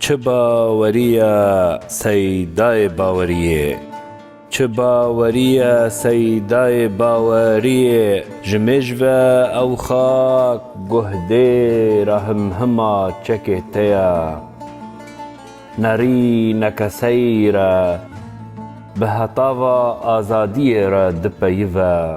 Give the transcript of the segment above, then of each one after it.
Çi bawerî ye seydayê baweriyê? Çi bawerî ye seydayê baweriyê ji mêj ve ew xak guhdê ra himhima çekê te ye. Nerî nekeseyî re bi heta va azadiyê re dipeyive.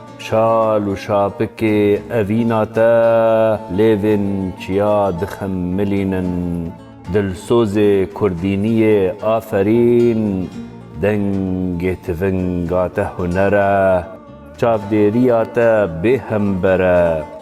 Şal û şapikê evîna te lêvên çiya dixemilînin. Dilsozê kurdîniyê aferîn, dengê tivinga te huner e, çavdêriya te bêhember e.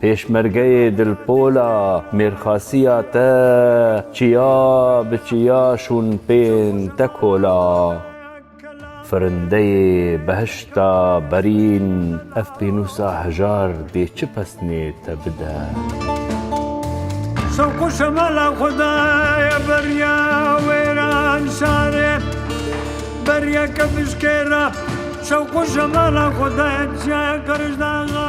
Pêşmergeyê Dilpola mêrxasiya te çiya bi çiya şûn pên te kola. Firindeyê behişta berîn ev pênûsa hejar dê çi pesnê te bide. Şewqu şemala xudaya beriya wêran şare beriya kevişkêra Şewqu şemala xudaya çiya qirişdaxa